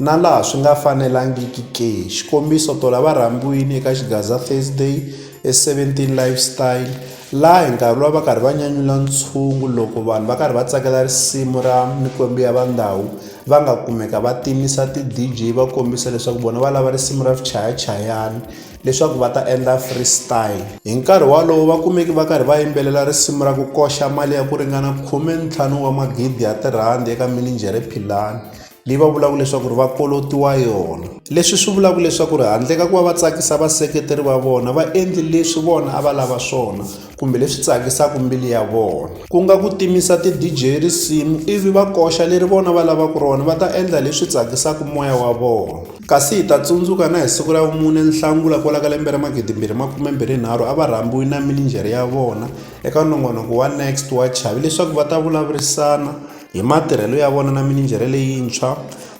na laha swi nga fanelangiki ke. Xikombiso, tolo a va rhambiwile eka Xigaza Thursday eSeventeen Lifestyle laha hi nkarhi lowu va karhi va nyanyula ntshungu loko vanhu va karhi va tsakela risimu ra Mikwembu Ya Vandhawu va nga kumeka va timisa ti-D_J va kombisa leswaku vona va lava risimu ra swichayachayani leswaku va ta endla free style. Hi nkarhi wolowo va kumeke va karhi va yimbelela risimu ra ku koxa mali ya ku ringana khumentlhanu wa magidi ya tirhandi eka mininjhere Philani. leyi va vulaka leswaku ri va kolotiwa yona leswi swi vulaka leswaku ri handle ka ku va va tsakisa vaseketeri va vona va endli leswi vona a va lava swona kumbe leswi tsakisaka mbilu ya vona ku nga ku timisa ti-dj risimu ivi va koxa leri vona va lavaka rona va ta endla leswi tsakisaka moya wa vona kasi hi ta tsundzuka na hi siku ra vumune nhlangula kwala ka lembe ra magidimbirhi makumembirhi nharhu a va rhambiwi na mininjhere ya vona eka nongonoko wa next wa chavi leswaku va ta vulavurisana hi matirhelo ya vona na mininjhere leyintshwa,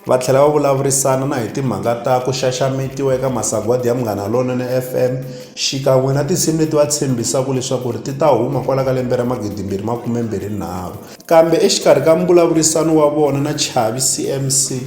va tlhela va vulavurisana na hi timhaka ta ku xaxametiwa eka masagwadi ya Munghana Lonene FM xikan'we na tinsimu leti va tshembisaka leswaku ri ti ta huma kwala ka lembe ra 2023. Kambe exikarhi ka mbulavurisano wa vona na Chavi CMC,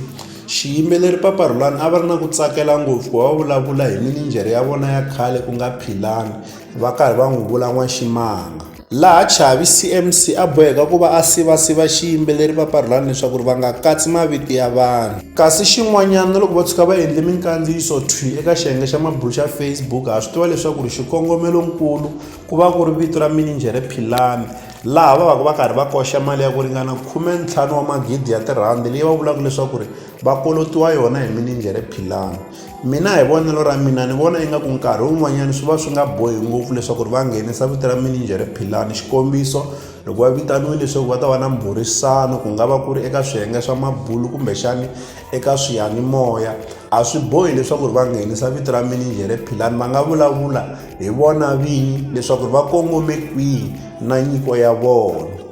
xiyimbeleri Papa Rhulani a va ri na ku tsakela ngopfu ku va va vulavula hi mininjhere ya vona ya khale ku nga Philani va karhi va n'wi vula N'waximanga. laha Chavi CMC a boheka ku va a siva-siva xiyimbeleri va Parlani leswaku ri va nga katsi mavito ya vanhu. Kasi xin'wanyana, na loko va tshuka va endle minkandziyiso thwi eka xiyenge xa mabulu xa Facebook, ha swi tiva leswaku ri xikongomelo-nkulu ku va ku ri vito ra mininjhere Philani, laha va vaka va karhi va koxa mali ya ku ringana khume-ntlhanu wa magidi ya tirhandi leyi va vulaka leswaku ri va kolotiwa yona hi mininjhere Philani. mina hi vonelo ra mina ni vona ingaku nkarhi wun'wanyana swi va swi nga bohi ngopfu leswaku ri va nghenisa vito ra mininjhere philani xikombiso loko va vitaniwile leswaku va ta va na mbhurisano ku nga va ku ri eka swiyenge swa mabulu kumbexani eka swiyanimoya a swi bohi leswaku ri va nghenisa vito ra mininjhere philani va nga vulavula hi vona vinyi leswaku ri va kongome kwihi na nyiko ya vona